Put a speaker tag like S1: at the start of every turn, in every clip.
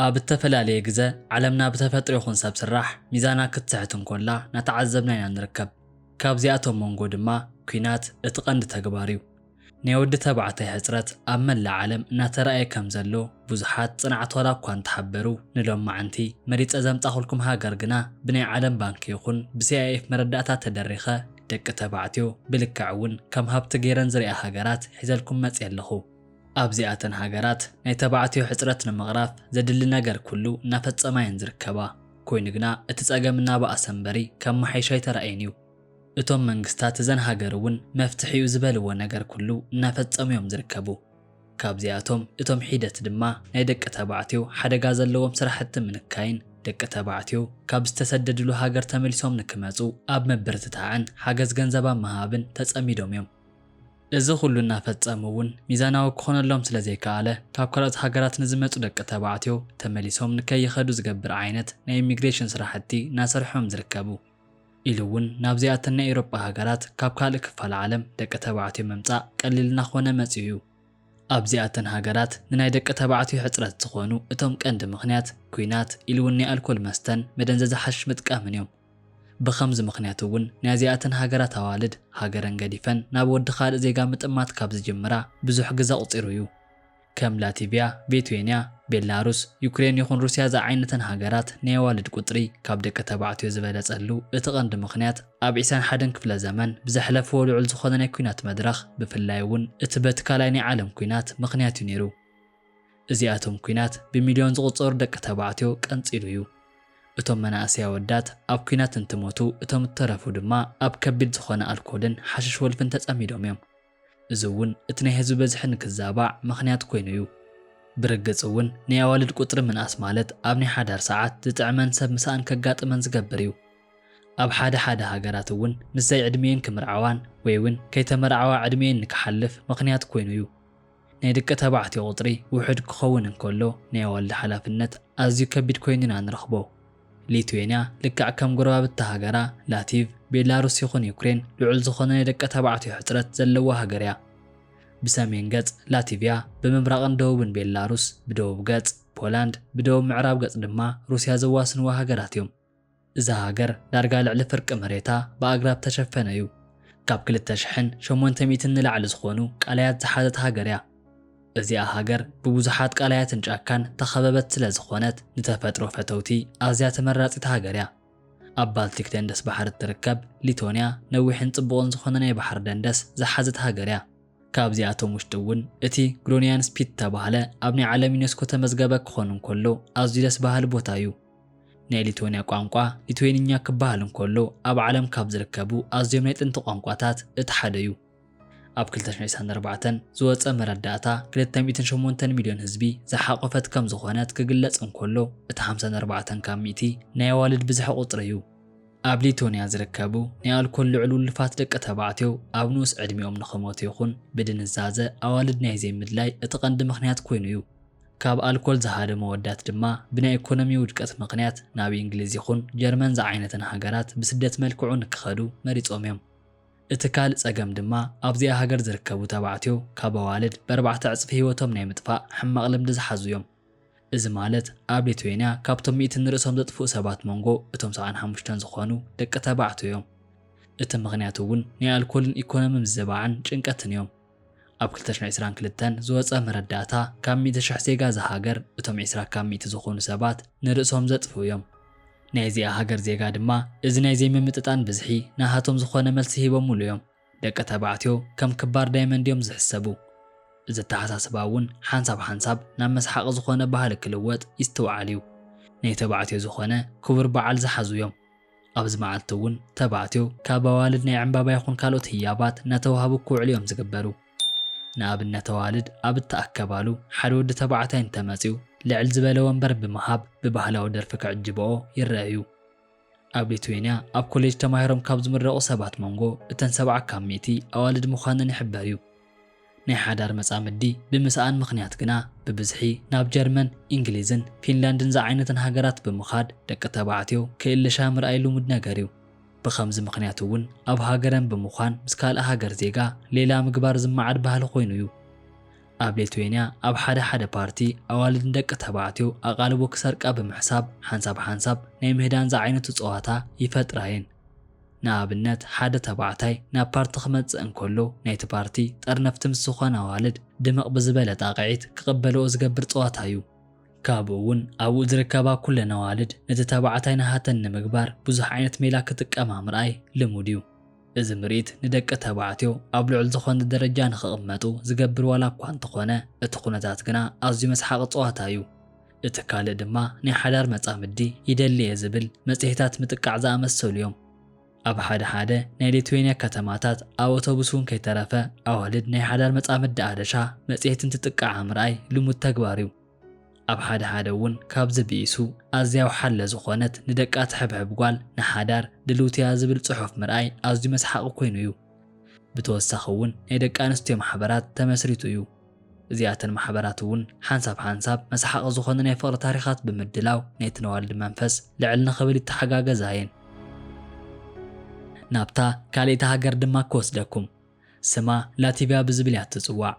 S1: ኣብ እተፈላለየ ግዘ ዓለምና ብተፈጥሮ ይኹን ሰብ ስራሕ ሚዛና ክትስሕት እንኮላ ናተዓዘብና ኢና ንርከብ። ካብዚኣቶም መንጎ ድማ ኩናት እቲ ቀንዲ ተግባር እዩ። ናይ ወዲ ተባዕታይ ሕፅረት ኣብ መላእ ዓለም እናተረኣየ ከም ዘሎ ብዙሓት ፅንዓት ዋላ እኳ እንተሓበሩ ንሎማዕንቲ መሪፀ ዘምፃኹልኩም ሃገር ግና ብናይ ዓለም ባንኪ ይኹን ብሲኣይኤፍ መረዳእታ ተደሪኸ ደቂ ተባዕትዮ ብልክዕ እውን ከም ሃብቲ ገይረን ዝሪኣ ሃገራት ሒዘልኩም መፂኤ ኣለኹ። ኣብዚኣተን ሃገራት ናይ ተባዕትዮ ሕፅረት ንምቕራፍ ዘድሊ ነገር ኩሉ እናፈፀማ እየን ዝርከባ። ኮይኑ ግና እቲ ፀገም እናበኣሰ እምበሪ ከመሓይሽ ኣይተራእየን እዩ። እቶም መንግስታት እዘን ሃገር እውን መፍትሒ እዩ ዝበልዎ ነገር ኩሉ እናፈፀሙ እዮም ዝርከቡ። ካብዚኣቶም እቶም ሒደት ድማ ናይ ደቂ ተባዕትዮ ሓደጋ ዘለዎም ስራሕቲ ምንካይን ደቂ ተባዕትዮ ካብ ዝተሰደድሉ ሃገር ተመሊሶም ንክመፁ ኣብ ምብርትታዕን ሓገዝ ገንዘብ ኣብ ምሃብን ተፀሚዶም እዮም። እዚ ኹሉ እናፈፀሙ እውን ሚዛናዊ ክኾነሎም ስለዘይከኣለ ካብ ካልኦት ሃገራት ንዝመፁ ደቂ ተባዕትዮ ተመሊሶም ንከይኸዱ ዝገብር ዓይነት ናይ ኢሚግሬሽን ስራሕቲ እናሰርሑ እዮም ዝርከቡ ኢሉ እውን ናብዚኣተን ናይ ኤውሮጳ ሃገራት ካብ ካልእ ክፋል ዓለም ደቂ ተባዕትዮ ምምፃእ ቀሊል እናኾነ መፂኡ እዩ። ኣብዚኣተን ሃገራት ንናይ ደቂ ተባዕትዮ ሕፅረት ዝኾኑ እቶም ቀንዲ ምኽንያት ኲናት ኢሉ እውን ናይ ኣልኮል መስተን መደንዘዚ ሓሽሽ ምጥቃምን እዮም። ብኸምዚ ምኽንያት እውን ናይዚኣተን ሃገራት ኣዋልድ ሃገረን ገዲፈን ናብ ወዲ ካልእ ዜጋ ምጥማት ካብ ዝጅምራ ብዙሕ ግዘ ኣቑፂሩ እዩ። ከም ላቲቪያ፣ ቬትዌንያ፣ ቤላሩስ፣ ዩክሬን ይኹን ሩሲያ ዝዓይነተን ሃገራት ናይ ኣዋልድ ቁፅሪ ካብ ደቂ ተባዕትዮ ዝበለፀሉ እቲ ቀንዲ ምኽንያት ኣብ ዒስራን ሓደን ክፍለ ዘመን ብዘሕለፍዎ ልዑል ዝኾነ ናይ ኩናት መድረኽ ብፍላይ እውን እቲ በቲ ካልኣይ ናይ ዓለም ኩናት ምኽንያት እዩ ነይሩ። እዚኣቶም ኩናት ብሚልዮን ዝቑጸሩ ደቂ ተባዕትዮ ቀንጺሉ እዩ። እቶም መናእሰይ ኣወዳት ኣብ ኩናት እንትሞቱ እቶም እተረፉ ድማ ኣብ ከቢድ ዝኾነ ኣልኮልን ሓሽሽ ወልፍን ተጸሚዶም እዮም። እዚ እውን እቲ ናይ ህዝቢ በዝሒ ንክዛባዕ ምኽንያት ኮይኑ እዩ። ብርግጽ እውን ናይ ኣዋልድ ቁጽሪ ምንኣስ ማለት ኣብ ናይ ሓዳር ሰዓት ዝጥዕመን ሰብ ምሳኣን ከጋጥመን ዝገብር እዩ። ኣብ ሓደ ሓደ ሃገራት እውን ምስ ዘይዕድሚኤን ክምርዓዋን ወይ እውን ከይተመርዓዋ ዕድሚኤን ንክሓልፍ ምኽንያት ኮይኑ እዩ። ናይ ደቂ ተባዕትዮ ቁጽሪ ውሑድ ክኸውን እንከሎ ናይ ኣዋልድ ሓላፍነት ኣዝዩ ከቢድ ኮይኑ ኢና ንረኽቦ። ሊትዌንያ ልክዕ ከም ጎረባብቲ ሃገራ ላቲቭ ቤላሩስ ይኹን ዩክሬን ልዑል ዝኾነ ናይ ደቂ ተባዕትዮ ሕጽረት ዘለዋ ሃገር እያ። ብሰሜን ገጽ ላቲቭያ ብምብራቕን ደቡብን ቤላሩስ ብደቡብ ገጽ ፖላንድ ብደቡብ ምዕራብ ገጽ ድማ ሩስያ ዘዋስንዋ ሃገራት እዮም። እዛ ሃገር ዳርጋ ልዕሊ ፍርቂ መሬታ ብኣግራብ ተሸፈነ እዩ። ካብ ክልተ ሽሕን ሸሞንተ ሚእትን ንላዕሊ ዝኾኑ ቃላያት ዝሓዘት ሃገር እያ። እዚኣ ሃገር ብብዙሓት ቃላያትን ጫካን ተኸበበት ስለ ዝኾነት ንተፈጥሮ ፈተውቲ ኣዝያ ተመራጺት ሃገር እያ። ኣብ ባልቲክ ደንደስ ባሕሪ እትርከብ ሊቶንያ ነዊሕን ጽቡቕን ዝኾነ ናይ ባሕሪ ደንደስ ዝሓዘት ሃገር እያ። ካብዚኣቶም ውሽጢ እውን እቲ ግሮንያን ስፒት ዝተባህለ ኣብ ናይ ዓለም ዩኔስኮ ተመዝገበ ክኾን እንከሎ ኣዝዩ ደስ በሃሊ ቦታ እዩ። ናይ ሊትወንያ ቋንቋ ሊትዌንኛ ክበሃል እንከሎ ኣብ ዓለም ካብ ዝርከቡ ኣዝዮም ናይ ጥንቲ ቋንቋታት እቲ ሓደ እዩ። ኣብ ክልተ ሽሕ ዒስራን ኣርባዕተን ዝወጸ መረዳእታ ክልተ ሚእትን ሸሞንተን ሚልዮን ህዝቢ ዝሓቖፈት ከም ዝኾነት ክግለጽ እንከሎ እቲ ሓምሳን ኣርባዕተን ካብ ሚእቲ ናይ ኣዋልድ ብዝሒ ቁጽሪ እዩ። ኣብ ሊትወንያ ዝርከቡ ናይ ኣልኮል ልዑል ውልፋት ደቂ ተባዕትዮ ኣብ ንኡስ ዕድሚኦም ንኽሞቱ ይኹን ብድንዛዘ ኣዋልድ ናይ ዘይምድላይ እቲ ቀንዲ ምኽንያት ኮይኑ እዩ። ካብ ኣልኮል ዝሃደ መወዳት ድማ ብናይ ኢኮኖሚ ውድቀት ምኽንያት ናብ ኢንግሊዝ ይኹን ጀርመን ዝዓይነተን ሃገራት ብስደት መልክዑ ንክኸዱ መሪጾም እዮም። እቲ ካልእ ጸገም ድማ ኣብዚኣ ሃገር ዝርከቡ ተባዕትዮ ካብ ኣዋልድ በርባዕተ ዕጽፊ ህይወቶም ናይ ምጥፋእ ሕማቕ ልምዲ ዝሓዙ እዮም። እዚ ማለት ኣብ ሊትዌንያ ካብቶም ሚእቲ ንርእሶም ዘጥፍኡ ሰባት መንጎ እቶም ሰብዓን ሓሙሽተን ዝኾኑ ደቂ ተባዕትዮ እዮም። እቲ ምኽንያት እውን ናይ ኣልኮልን ኢኮኖሚ ምዝባዕን ጭንቀትን እዮም። ኣብ ክልተ ሽሕን ዕስራን ክልተን ዝወጸ መረዳእታ ካብ ሚእቲ ሽሕ ዜጋ እዛ ሃገር እቶም ዕስራ ካብ ሚእቲ ዝኾኑ ሰባት ንርእሶም ዘጥፍኡ እዮም። ናይ እዚኣ ሃገር ዜጋ ድማ እዚ ናይ ዘይምምጥጣን ብዝሒ ናሃቶም ዝኾነ መልሲ ሂቦሙሉ እዮም። ደቂ ተባዕትዮ ከም ክባር ዳይመንድ እዮም ዝሕሰቡ። እዚ ኣተሓሳስባ እውን ሓንሳብ ሓንሳብ ናብ መስሓቒ ዝኾነ ባህሊ ክልወጥ ይስትውዓል እዩ። ናይ ተባዕትዮ ዝኾነ ክቡር በዓል ዝሓዙ እዮም። ኣብዚ መዓልቲ እውን ተባዕትዮ ካብ ኣዋልድ ናይ ዕምባባ ይኹን ካልኦት ህያባት እናተወሃቡ ክውዕሉ እዮም ዝግበሩ። ንኣብነት ኣዋልድ ኣብ እተኣከባሉ ሓደ ወዲ ተባዕታይ እንተ መጺኡ ልዕል ዝበለ ወንበር ብምሃብ ብባህላዊ ደርፊ ክዕጅበኦ ይረኣ እዩ። ኣብ ሊትዌንያ ኣብ ኮሌጅ ተማሂሮም ካብ ዝምረቑ ሰባት መንጎ እተን ሰብዓ ካብ ሚእቲ ኣዋልድ ምዃነን ይሕበር እዩ። ናይ ሓዳር መጻምዲ ብምስኣን ምኽንያት ግና ብብዝሒ ናብ ጀርመን፣ ኢንግሊዝን ፊንላንድን ዝዓይነተን ሃገራት ብምኻድ ደቂ ተባዕትዮ ክእልሻ ምርኣይ ልሙድ ነገር እዩ። ብኸምዚ ምኽንያት እውን ኣብ ሃገረን ብምዃን ምስ ካልእ ሃገር ዜጋ ሌላ ምግባር ዝመዓድ ባህሊ ኮይኑ እዩ። ኣብ ሌትዌንያ ኣብ ሓደ ሓደ ፓርቲ ኣዋልድ ንደቂ ተባዕትዮ ኣቓልቦ ክሰርቃ ብምሕሳብ ሓንሳብ ሓንሳብ ናይ ምህዳን ዝዓይነቱ ጸዋታ ይፈጥራ እየን። ንኣብነት ሓደ ተባዕታይ ናብ ፓርቲ ክመጽእ እንከሎ ናይቲ ፓርቲ ጠርነፍቲ ምስ ዝኾና ኣዋልድ ድምቕ ብዝበለ ጣቕዒት ክቕበልኦ ዝገብር ጸዋታ እዩ። ካብኡ እውን ኣብኡ ዝርከባ ኩለን ኣዋልድ ነቲ ተባዕታይ ናሃተን ንምግባር ብዙሕ ዓይነት ሜላ ክጥቀማ ምርኣይ ልሙድ እዩ። እዚ ምርኢት ንደቂ ተባዕትዮ ኣብ ልዑል ዝኾነ ደረጃ ንክቕመጡ ዝገብር ዋላ እኳ እንተኾነ እቲ ኩነታት ግና ኣዝዩ መስሓቒ ጸዋታ እዩ። እቲ ካልእ ድማ ናይ ሓዳር መጻምዲ ይደሊ እየ ዝብል መጽሔታት ምጥቃዕ ዝኣመሰሉ እዮም። ኣብ ሓደ ሓደ ናይ ሊትዌንያ ከተማታት ኣብ ኣውቶቡስ እውን ከይተረፈ ኣዋልድ ናይ ሓዳር መጻምዲ ኣደሻ መጽሔት እንትጥቅዓ ምርኣይ ልሙድ ተግባር እዩ። ኣብ ሓደ ሓደ እውን ካብዚ ብኢሱ ኣዝያ ወሓለ ዝኾነት ንደቃ ትሕብሕብ ጓል ንሓዳር ድልውቲ እያ ዝብል ጽሑፍ ምርኣይ ኣዝዩ መስሓቒ ኮይኑ እዩ። ብተወሳኺ እውን ናይ ደቂ ኣንስትዮ ማሕበራት ተመስሪቱ እዩ። እዚኣተን ማሕበራት እውን ሓንሳብ ሓንሳብ መስሓቒ ዝኾኑ ናይ ፍቕሪ ታሪኻት ብምድላው ነቲ ነዋልዲ መንፈስ ልዕል ንኽብል ይተሓጋገዛ እየን። ናብታ ካልኣይቲ ሃገር ድማ ክወስደኩም። ስማ ላቲቭያ ብዝብል እያ እትጽዋዕ።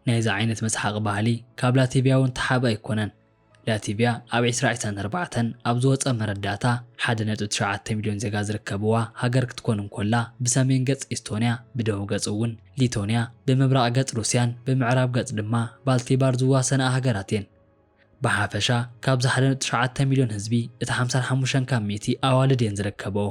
S1: ናይዚ ዓይነት መስሓቒ ባህሊ ካብ ላቲቭያ እውን እተሓብአ ኣይኮነን። ላቲቭያ ኣብ ዕስራ ዕስራን ኣርባዕተን ኣብ ዝወጸ መረዳእታ ሓደ ነጥቢ ትሽዓተ ሚልዮን ዜጋ ዝርከብዋ ሃገር ክትኮን እንኮላ ብሰሜን ገጽ ኢስቶንያ ብደቡብ ገጽ እውን ሊቶንያ ብምብራቕ ገጽ ሩስያን ብምዕራብ ገጽ ድማ ባልቲባር ዝዋሰናኣ ሃገራት እየን። ብሓፈሻ ካብዚ ሓደ ነጥቢ ትሽዓተ ሚልዮን ህዝቢ እቲ ሓምሳን ሓሙሽተን ካብ ሚእቲ ኣዋልድ እየን ዝርከበኦ።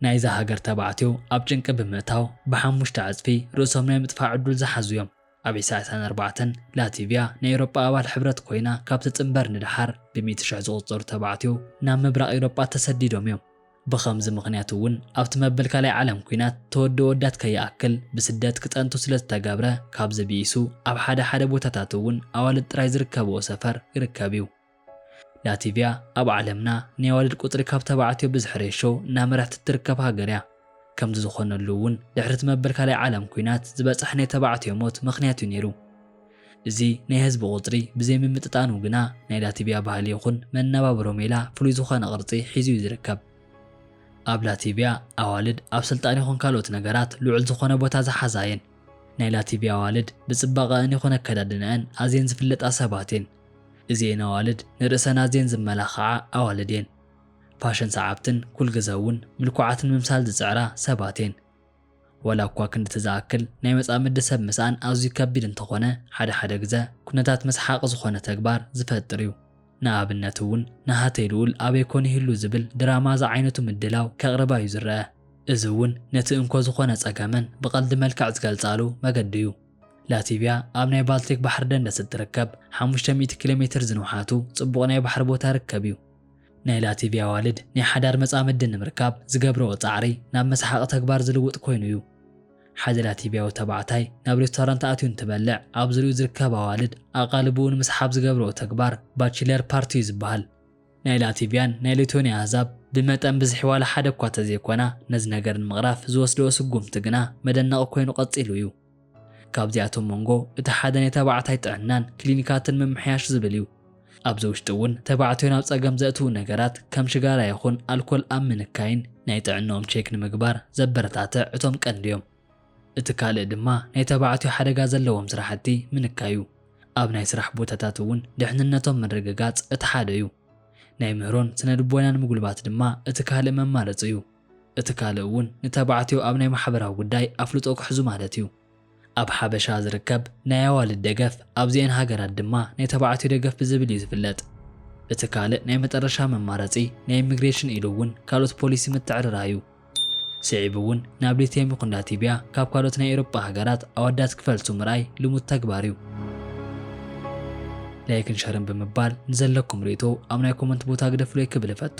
S1: ናይዛ ሃገር ተባዕትዮ ኣብ ጭንቂ ብምእታው ብሓሙሽተ ዕጽፊ ርእሶም ናይ ምጥፋእ ዕዱል ዝሓዙ እዮም። ኣብ ኢሳያሳን ኣርባዕተን፣ ላቲቪያ ናይ ኤውሮጳ ኣባል ሕብረት ኮይና ካብ ትጽንበር ንደሓር ብሚእቲ ሽሕ ዝቑጸሩ ተባዕትዮ ናብ ምብራቕ ኤውሮጳ ተሰዲዶም እዮም። ብኸምዚ ምኽንያት እውን ኣብቲ መበል ካልኣይ ዓለም ኲናት ተወዲ ኣወዳት ከይኣክል ብስደት ክጸንቱ ስለ ዝተገብረ ካብዚ ብኢሱ ኣብ ሓደ ሓደ ቦታታት እውን ኣዋልድ ጥራይ ዝርከበኦ ሰፈር ይርከብ እዩ። ላቲቭያ ኣብ ዓለምና ናይ ኣዋልድ ቁጽሪ ካብ ተባዕትዮ ብዝሒ ሬሾ እናመርሐት እትርከብ ሃገር እያ። ከምዚ ዝኾነሉ እውን ድሕሪ እቲ መበል ካልኣይ ዓለም ኩናት ዝበጸሐ ናይ ተባዕትዮ ሞት ምኽንያት እዩ ነይሩ። እዚ ናይ ህዝቢ ቁጽሪ ብዘይምምጥጣኑ ግና ናይ ላቲቭያ ባህሊ ይኹን መነባብሮ ሜላ ፍሉይ ዝኾነ ቅርጺ ሒዙ እዩ ዝርከብ። ኣብ ላቲቭያ ኣዋልድ ኣብ ስልጣን ይኹን ካልኦት ነገራት ልዑል ዝኾነ ቦታ ዝሓዛ እየን። ናይ ላቲቭያ ኣዋልድ ብጽባቐኣን ይኹን ኣከዳድነኣን ኣዝየን ዝፍለጣ ሰባት እየን። እዚኤን ኣዋልድ ንርእሰን ኣዝየን ዝመላኸዓ ኣዋልድ እየን። ፋሽን ሰዓብትን ኩልግዘ እውን ምልኩዓት ንምምሳል ዝጽዕራ ሰባት እየን። ዋላ እኳ ክንድቲ ዝኣክል ናይ መጻምዲ ሰብ ምስኣን ኣዝዩ ከቢድ እንተኾነ ሓደ ሓደ ግዘ ኩነታት መስሓቒ ዝኾነ ተግባር ዝፈጥር እዩ። ንኣብነት እውን ናሃተይ ልኡል ኣበይ ኮን ይህሉ ዝብል ድራማ ዝዓይነቱ ምድላው ከቕርባ እዩ ዝረኣ። እዚ እውን ነቲ እንኮ ዝኾነ ጸገመን ብቐልዲ መልክዕ ዝገልጻሉ መገዲ እዩ። ላቲቭያ ኣብ ናይ ባልቲክ ባሕሪ ደንደስ እትርከብ ሓሙሽተ ሚእቲ ኪሎ ሜትር ዝንውሓቱ ጽቡቕ ናይ ባሕሪ ቦታ ርከብ እዩ። ናይ ላቲቭያ ኣዋልድ ናይ ሓዳር መጻምዲ ንምርካብ ዝገብርኦ ጻዕሪ ናብ መስሓቒ ተግባር ዝልውጥ ኮይኑ እዩ። ሓደ ላቲቭያዊ ተባዕታይ ናብ ሬስቶራንት ኣትዩ እንትበልዕ ኣብ ዙርይኡ ዝርከባ ኣዋልድ ኣቓልቦኡ ንምስሓብ ዝገብርኦ ተግባር ባችለር ፓርቲ እዩ ዝበሃል። ናይ ላቲቪያን ናይ ሊቶኒያ ኣህዛብ ብመጠን ብዝሒ ዋላ ሓደ እኳ ተዘይኮና ነዚ ነገር ንምቕራፍ ዝወስድኦ ስጉምቲ ግና መደነቒ ኮይኑ ቀጺሉ እዩ። ካብዚኣቶም መንጎ እቲ ሓደ ናይ ተባዕታይ ጥዕናን ክሊኒካትን ምምሕያሽ ዝብል እዩ። ኣብዚ ውሽጢ እውን ተባዕትዮ ናብ ጸገም ዘእትዉ ነገራት ከም ሽጋራ ይኹን ኣልኮል ኣብ ምንካይን ናይ ጥዕንኦም ቼክ ንምግባር ዘበረታትዕ እቶም ቀንዲ እዮም። እቲ ካልእ ድማ ናይ ተባዕትዮ ሓደጋ ዘለዎም ስራሕቲ ምንካዩ። ኣብ ናይ ስራሕ ቦታታት እውን ድሕንነቶም ምርግጋፅ እቲ ሓደ ዩ። ናይ ምህሮን ስነልቦናን ምጉልባት ድማ እቲ ካልእ መማረፂ ዩ። እቲ ካልእ እውን ንተባዕትዮ ኣብ ናይ ማሕበራዊ ጉዳይ ኣፍልጦ ክሕዙ ማለት ዩ። ኣብ ሓበሻ ዝርከብ ናይ ኣዋልድ ደገፍ ኣብዚኤን ሃገራት ድማ ናይ ተባዕትዮ ደገፍ ብዝብል ዩ ዝፍለጥ። እቲ ካልእ ናይ መጠረሻ መማረፂ ናይ ኢሚግሬሽን ኢሉ እውን ካልኦት ፖሊሲ ምትዕርራይ ዩ። ስዒቡ እውን ናብ ሊትየም ይኹን ላቲብያ ካብ ካልኦት ናይ ኤውሮጳ ሃገራት ኣወዳት ክፈልሱ ምርኣይ ልሙድ ተግባር እዩ። ላይክን ሸርን ብምባል ንዘለኩም ርእይቶ ኣብ ናይ ኮመንት ቦታ ግደፉለይ ክብል እፈቱ።